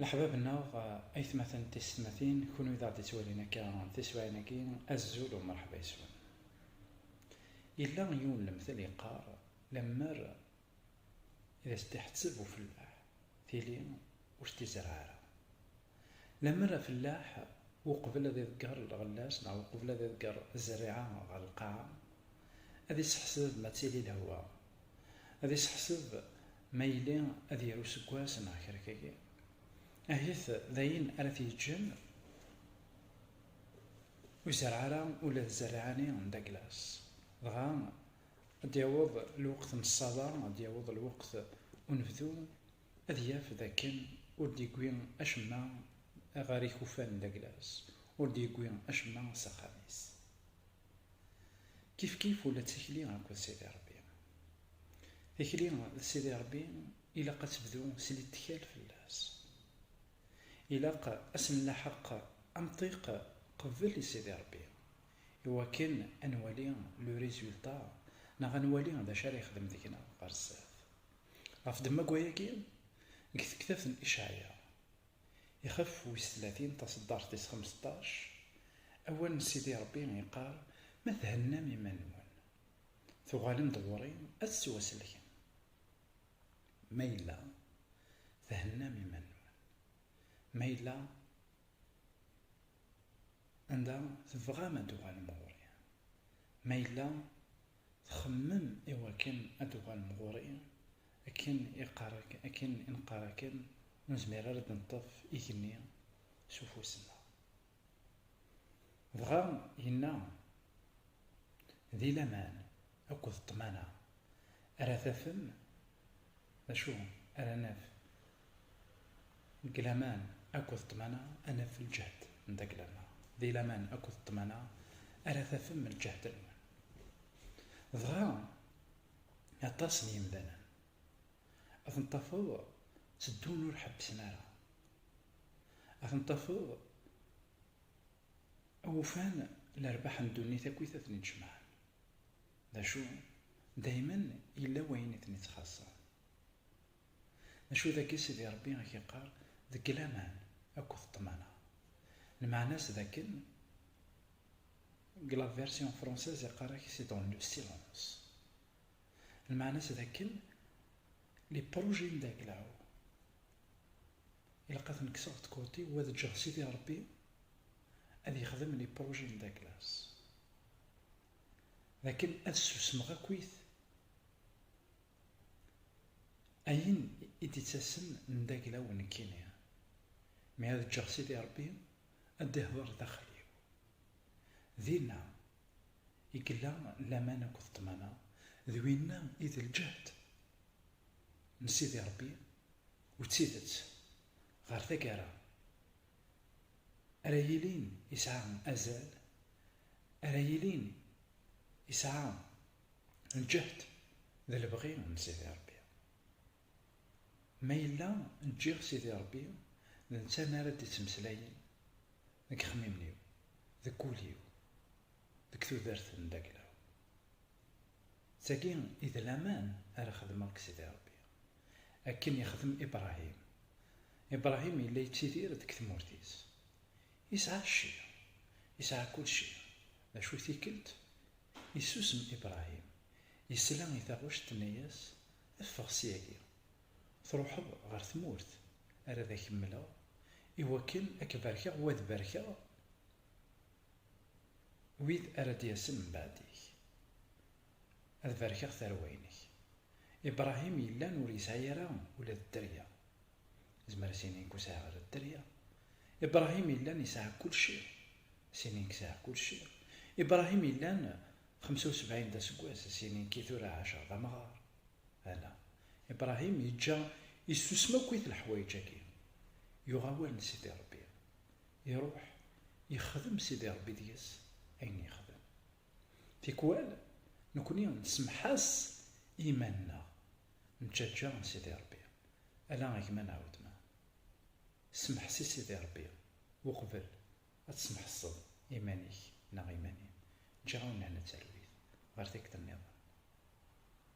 Leḥbab-nneɣ, aytmaten d teysetmatin, kunwi d aɣ-d-ittwalin akka tiswiɛin-agi, azul u mṛeḥba yes-wen. Yella yiwen n lemtel yeqqar, Lemmer i d as-d-iḥetteb ufellaḥ, tili ur s-d-izerreɛ ara. Lemmer afellaḥ uqbel ad iḍegger lɣella-s neɣ uqbel ad iḍegger zzerriɛa ɣer lqaɛa, ad iseḥseb ma ttili lehwa, ad iseḥseb ma yili ad yerr useggas neɣ kra kagi, ahit d ayen ara t-yeǧǧen ur izerreɛ ara ula d zzerriɛa-nni n Douglas. Dɣa ad d-yaweḍ lweqt n ṣṣaba, ad d-yaweḍ lweqt unebdu, ad yaf d akken ur d-yewwi acemma ɣer ikufan n Daglas, ur d-yewwi acemma s axxam-is. Kifkif ula d tikli akked Sidi Ṛebbi. Tikli d Sidi Ṛebbi ilaq ad tebdu s littkal fell-as. Ilaq ad s-nlaḥeq amṭiq qbel i Sidi Ṛebbi, i wakken ad nwali le résultat neɣ ad nwali d acu ara yexdem deg-neɣ ɣer sdat. Ɣef ddemma n wayagi, deg tektabt n Icɛaya, ixef wis tlatin, taṣeddart tis xemseṭṭac, awal n Sidi Ṛebbi iqqar, Ma thennam iman-nwen, tuɣalem-d ɣur-i ad tettwasellkem. Ma yella thennam iman-nwen, ma yella anda tebɣam ad d-tuɣalem ɣur-i, ma yella Txemmem i wakken ad d-tuɣalem ɣur-i, akken i qqar-ak, akken i neqqar akken, ur nezmir ara ad d-neṭṭef igenni s ufus-nneɣ. Dɣa yenna, Di laman akked ṭṭmana ara tafem, d acu ara naf Deg laman akked ṭṭmana ad naf lǧehd n tagla-nneɣ. Di laman akked ṭṭmana ara tafem lǧehd-nwen. Dɣa aṭas n yemdanen ad ten-tafeḍ tteddun ur ḥebbsen ara. Ad ten-tafeḍ ufan lerbaḥ n ddunit akkit ad ten-id-jemɛen. D acu? Daymen yella wayen i ten-ittxaṣṣen. D acu dagi Sidi Ṛebbi i k-iqqar deg laman akked ṭṭmana? Lmeɛna-s d akken, deg la version française iqqar-ak c'est dans le silence. Lmeɛna-s d akken, les projets n Daglaw ilaq ad ten-kkseɣ d côté-w ad ǧǧeɣ Sidi Ṛebbi ad yexdem les projets n Daglas. D akken ad susmeɣ akkit Ayen i d-ittasen n daglaw nekkini, mi ad ǧǧeɣ Sidi Ṛebbi ad d-ihdeṛ daxel-iw. Dinna i yella laman akked ṭṭmana, d winna i d lǧehd n Sidi Ṛebbi, u d tidet ɣer taggara ara yilin yesɛa azal, ara yilin yesɛa Lǧehd d lebɣi n Sidi Ṛebbi. Ma yella ǧǧiɣ Sidi Ṛebbi d netta mi ara d-ittmeslayen deg yexmimen-iw, deg wul-iw, deg tudert n Dagla-w. D tagi i d laman ara xedmeɣ deg Sidi Ṛebbi. Akken yexdem Ibṛahim. Ibṛahim yella yettidir deg tmurt-is. Yesɛa cci, yesɛa kullci, d acu tikelt Yessusem Ibrahim, yesla i taɣect tenna-yas, Ffeɣ syagi, truḥeḍ ɣer tmurt ara ad ak-mmleɣ, iwakken ad k-barkeɣ u ad barkeɣ wid ara d-yasen mbeɛd-ik, ad barkeɣ tarwa-inek. Ibrahim yellan ur yesɛi ara ula d dderya, Zmer sini deg usɛa ɣer dderya. Ibrahim illan isɛa kulci. Sini deg sɛa kulci. Ibrahim illan xemsa u sebɛin d aseggas, sini deg tura ɛaceɣ d amɣar. Ala, Ibrahim yeǧǧa yessusem akkit leḥwayeǧ-agi. Yuɣ awal n Sidi Rebbi. Iruḥ, yexdem Sidi Rebbi deg-s ayen yexdem. Tikwal, nekni nsemmeḥ-as i yiman-nneɣ, Nǧaǧǧa a Sidi Ṛebbi, ala a gma neɣ wetma. Semḥes i Sidi Ṛebbi uqbel ad tesmeḥseḍ iman-ik neɣ iman-im. Ǧǧiɣ-awen lehna d talwit ɣer tikkelt-nniḍen.